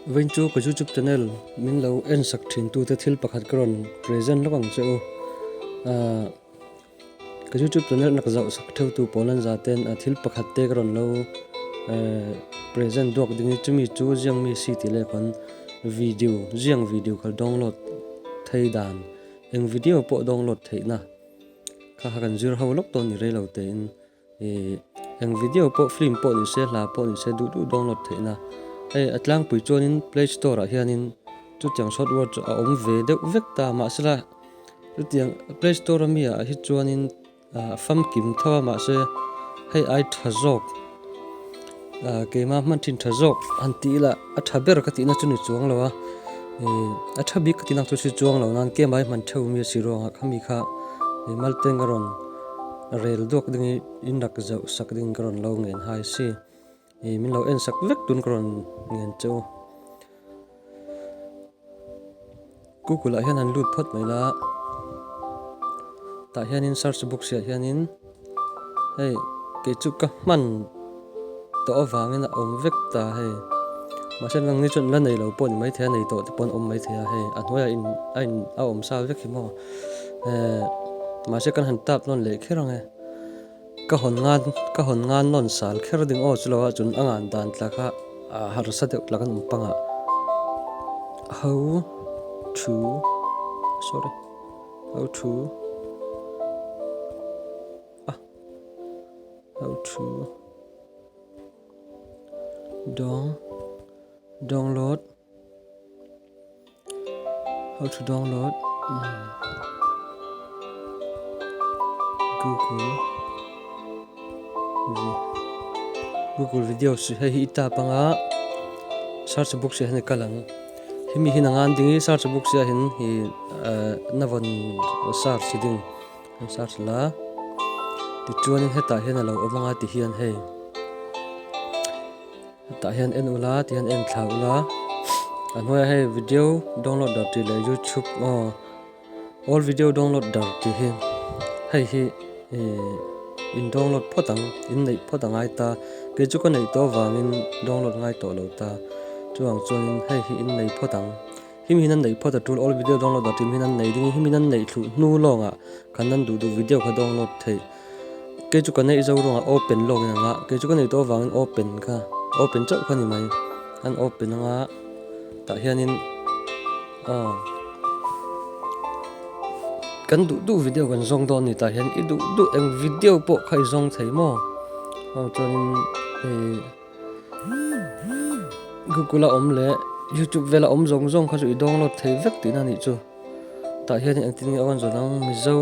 Vawin chu ka YouTube channel min lo en sak thin tu te thil pakhat ka rawn present hlawk ang che u. Ka YouTube channel na ka zauh sak theu tu pawl an za ten a thil pakhat te ka rawn lo present duak ding i chumi chu ziang mi si ti le khawn video ziang video kal download thei dan eng video pawh download theih na kha kan zir ho lawk dawn ni rei lo te in. Eng video pawh film pawh ni se hla pawh ni se duh duh download theihna hei a tlangpui chuanin play store ah hianin chutiang soft word chu a awm ve deuh vek ta mahsela chutiang play store a mi ah hi chuanin a famkim tho a mahse hei ai tha zawk. Keimah hman thin tha zawk han tih ila a tha ber ka tihna chu ni chuang lo a, a tha bik ka tihna chu si chuang lo nan kemah hi hman theuh mia si ruangah khami kha Malteng a rawn rel duak ding hi inrak zauh sak ding ka rawn lo nghenhai si, min lo en sak vek tun ka rawn nghen che u. Google ah hian an lut phawt mai la a, tah hianin search box ah hianin hei kei chu ka hman tawh avangin a awm vek ta hei, mahse nang ni chuan la nei lo pawh ni maithei a, a nei tawh te pawh an awm maithei a hei, a hnuaiah a in a awm sa vek hi maw, mahse kan han tap nawn leh kher ang e. Ka hawn ngan, ka hawn ngan nawn sal kher ding aw chulaw a chun a ngan dan tla kha aa harsa deuh tla kan awm panga ho thu sorry ho thu a ho thu dawng dawng lawt. How to download Google Google video si hei hi ita panga search box hi hei kalang hi mi hina ngan dingi search box hi hin hi navon search hi ding search la ti chuan heta hina lo omanga ti hian hei Tah hian en ula tih hian en thla ula. A hnuaiah hei video download dar tih leh youtube aw all video download dar tih hi hei hi in download phawt ang in neih phawt ang ai ta kei chu ka neih tawh vangin download ngai tawh lo ta chuang chuan in hei hi in neih phawt ang hi min an neih phawt a tul all video download dar tih min an neih ding hi min an neih thluh hnu lawngah kan nan duh duh video kha download thei Kei chu ka neih zo ruang ah open lawk in ang a, kei chu ka neih tawh avang in open kha open chauh kha ni mai. An open ang a, tah hian in aw kan duh duh video kan zawng dawn a ni, tah hian i duh duh eng video pawh kha i zawng thei maw? Aw chuan in hei. Google a awm leh YouTube vel a awm zawng zawng kha chu i download thei vek tihna a nih chu. Tah hian in engtin nge aw a ni zawh dang Mizo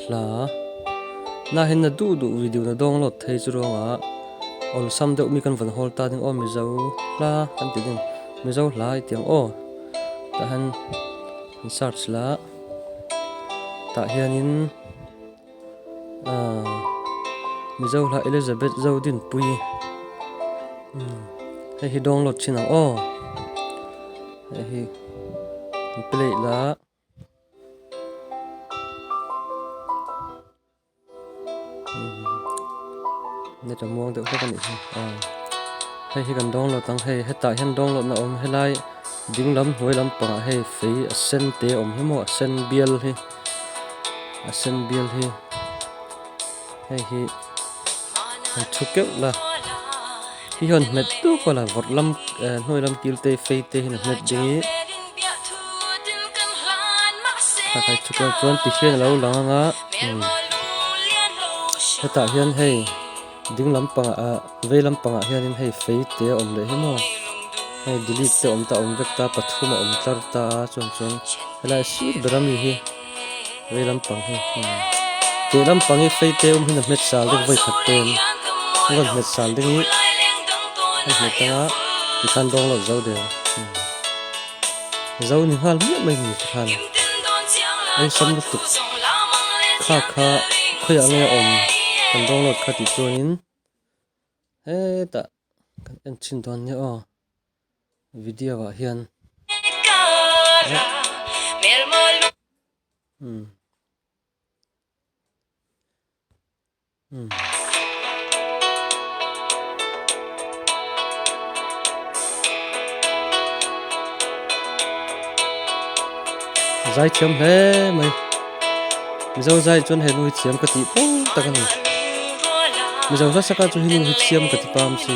hla nai hian na duh duh video na download thei chu ruangah awlsam deuh mi kan vawn hawl ta ding aw Mizo hla kan tih ding Mizo hla i tih ang aw tah hian in search lah tah hianin. Mizo hla Elizabeth zo dinpui hei hi download thin ang aw hei hi an play la net a muang deuh hlek a nih hi hei hi kan download ang hei hetah hian download na awm helai dinglam hnuai lampangah hei fei a sen te awm hi maw a sen bial hi. a sen bial hi hei hi han thu keuh la hi hian hmet dup a la vawrh lam eh hnuai lam kil te fei te hian a hmet ding i a kai thu keuh chuan tihian a lo lang ang a umm hetah hian hei-- Ding lampangah a vei lampangah hian in hei fei te awm leh hi maw hei dilip te awm ta awm vek ta pathum a awm tlar ta a chuan chuan helai a sir ber a mi hi vei lampang hi tih lampang hi fei te awm hi na hmet sal deuh vawi khat pen a rawn hmet sal ding hi a hmu tang a ti khan dawng lo zo der. Zo ni nghal miah mai mi te khan an sam lutuk. Kha kha khawiah nge a awm kan download kha tih chuanin hetah kan en chin dawn nia aw video ah hian umm. zai thiam hle mai mizo zai chuan he nu hi thiam ka tih pawng tak a ni mizo hla saka chu he nu hi thiam ka ti pam si.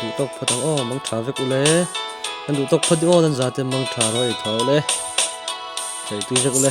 duh tawk phawt ang aw mang tha vek ule kan duh tawk phawt aw nan za te mang tha raw ei tha ule chei tui vek ule